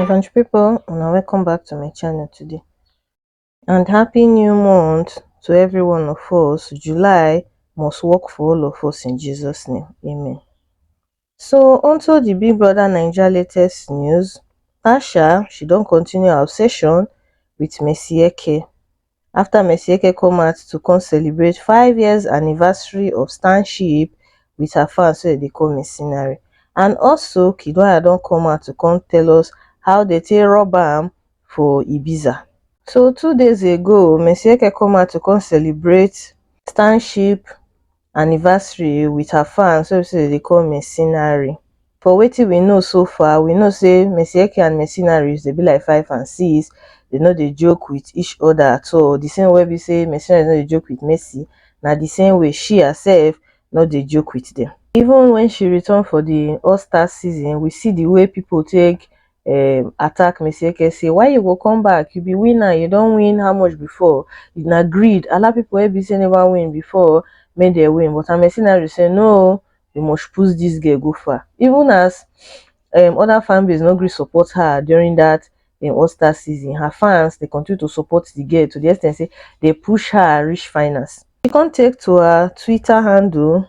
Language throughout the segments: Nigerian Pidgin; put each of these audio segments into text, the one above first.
my country people una welcome back to my channel today and happy new month to every one of us july must work for all of us in jesus name amen so onto the big brother niger latest news tasha she don't continue her obsession with messi eke afta mercy eke come out to come celebrate five years anniversary of stan ship with her fans wey dem dey call Missinary and also Kiddwaya don come out to come tell us how dem take rob am for Ibiza. So two days ago, Mercy Eke come out to come celebrate Stan ship anniversary with her fans wey be say dem dey call mercenary for wetin we know so far we know say Mercy Eke and mercenary dem be like five and six dem no dey joke with each other at all the same way wey be say mercenary no dey joke with Mercy na the same way she herself no dey joke with dem even when she return for the all star season we see the way people take um attack me say eke say why you go come back you be winner you don win how much before na greed allow people wey be say never win before make dem win but Amesinario say no you must push this girl go far even as um other fan base no gree support her during that um All Star season her fans dey continue to support the girl to the ex ten t say dey push her reach finals she come take to her Twitter handle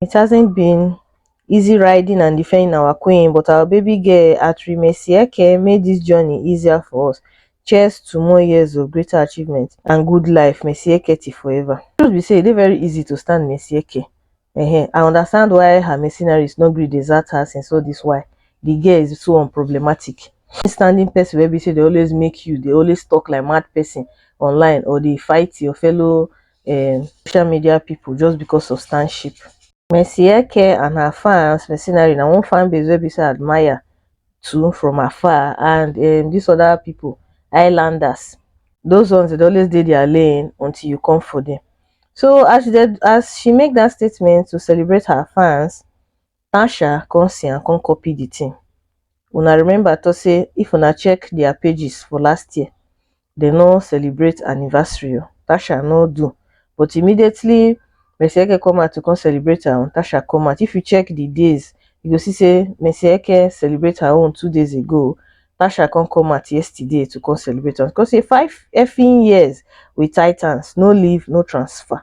It hasn't been easy riding and defending our queen, but our baby girl Atrimesieke made this journey easier for us. Cheers to more years of greater achievements and good life, Mesieke ti forever. Truth be say, e dey very easy to stand Mesieke. Uh-huh. I understand why her mercenaries no gree desert her since all this while. The girl is so unproblematic. Standing person wey be say dey always make you dey always talk like mad person online or dey fight your fellow um social media pipo just becos of stan ship Mercy Eke and her fans Mercenary na one fan base wey be say I admire too from afar and um dis other pipo Highlanders those ones dey dey always dey their lane until you come for dem so as she dey as she make dat statement to celebrate her fans tan sha come see am come copy the thing una remember talk say if una check their pages for last year they no celebrate anniversary o tasha no do but immediately Mercy Eke come out to come celebrate her own tasha come out if you check the days you go see say Mercy Eke celebrate her own two days ago tasha come come out yesterday to come celebrate am come say five effing years with titans no leave no transfer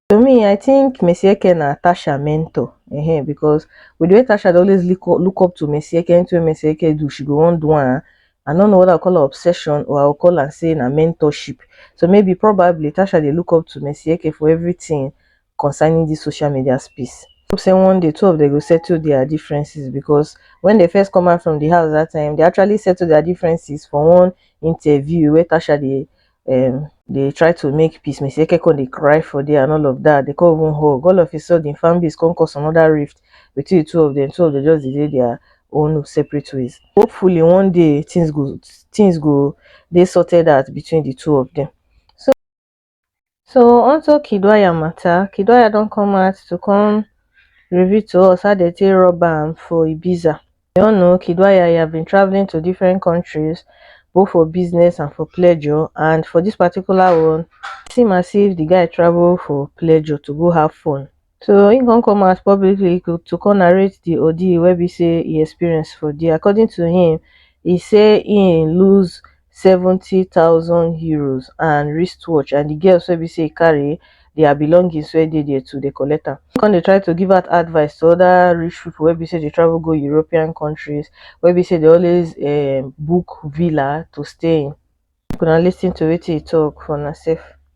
To me I think Messi Eke na Tasha mentor um because with the way Tasha dey always look up to Messi Eke, anything wey Messi Eke do she go wan do am. I no know whether I call am obsession or I go call am say na mentorship. So maybe probably Tasha dey look up to Messi Eke for everything concerning this social media space. Hope say one day two of them go settle their differences because when they first come out from the house that time, they actually settle their differences for one interview where Tasha dey um dey try to make peace me say kekon dey cry for there and all of that dey con even hug all of a sudden fan base con cause another rift between the two of them two of them just dey dey their own separate ways hopefully one day things go things go dey sorted out between the two of them so so onto kidwaya matter kidwaya don come out to come reveal to us how they take rob am for ibiza We all know Kidwayaya been traveling to different countries both for business and for pleasure and for this particular one it seem as if the guy travel for pleasure to go have fun so he come come out publicly to come narrate the ordeal wey be say he experience for there according to him he say he lose seventy thousand euros and wrist watch and the girls wey be say e carry their belongings wey dey there too dey collect am come dey try to give out advice to other rich people wey be say dey travel go European countries wey be say dey always um book villa to stay in make una listen to wetin e talk for una sef.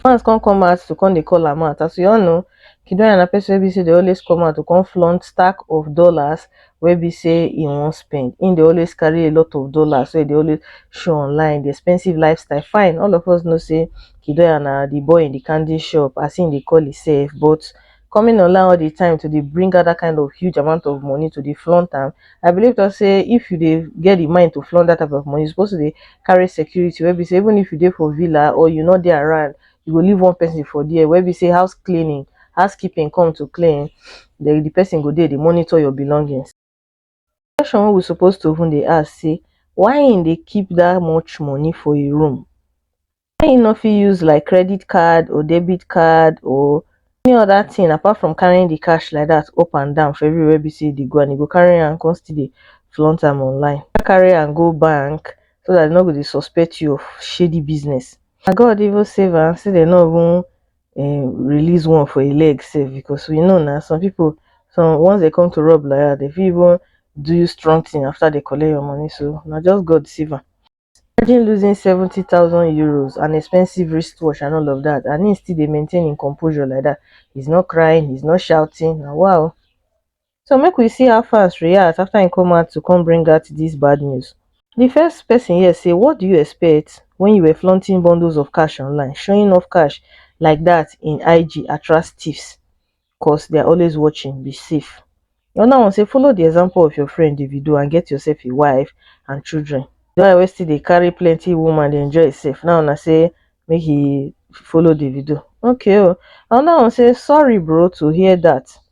fans come come out to come dey call am out as we all know Kidoya na person wey be say dey always come out to come flaunt stack of dollars wey be say he wan spend him dey always carry a lot of dollars wey he dey always show online the expensive lifestyle fine all of us know say Kidoya na the boy in the candy shop as him dey call himself but coming online all the time to dey bring out that kind of huge amount of money to dey flaunt am i believe talk say if you dey get the mind to flaunt that type of money you suppose to dey carry security wey be say even if you dey for villa or you no dey around you go leave one person for there wey be say house cleaning housekeeping come to clean the, the person go dey dey monitor your belongings Question wey we suppose to even dey ask say why him dey keep that much money for him room wey him no fit use like credit card or debit card or any other thing apart from carrying the cash like that up and down for everywhere wey be say him dey go and him go carry am come still dey flaunt am online why carry am go bank so that dem no go dey suspect you of shady business na God even save am say dem no even um release one for e leg sef because we know na some people some once they come to rub like that they fit even do you strong thing after they collect your money so na just God save am. Imagine losing seventy thousand euros, an expensive wristwatch and all of that and he still dey maintain im composure like that. He's not crying, he's not shouting, na wow. so make we see how fans react afta im come out to come bring out dis bad news di first pesin here say what do you expect wen you were flaunting bundles of cash online showing off cash like dat in ig attract tiffs cos they're always watching be safe anoda one say follow di example of your friend davido and get yourself a wife and children di one wey still dey carry plenty woman dey enjoy himself now una say make he follow davido okay o anoda one say sorry bro to hear dat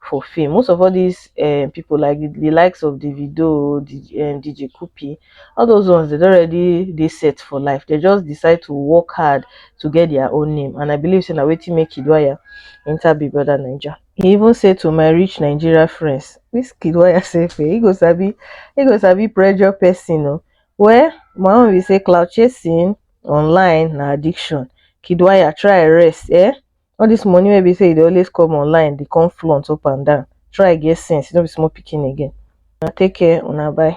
for fame most of all these um, people like the, the likes of davido um, dj kupi all those ones they already they set for life they just decide to work hard to get their own name and i believe saying way to make kidwaya enter big brother ninja he even said to my rich nigeria friends this kidwaya safe eh, he goes be he goes be pressure person oh. well my own we say cloud chasing online na addiction kidwaya try rest eh all this money wey be say e dey always come online dey come flaunt up and down try get sense you no be small pikin again una take care una bye.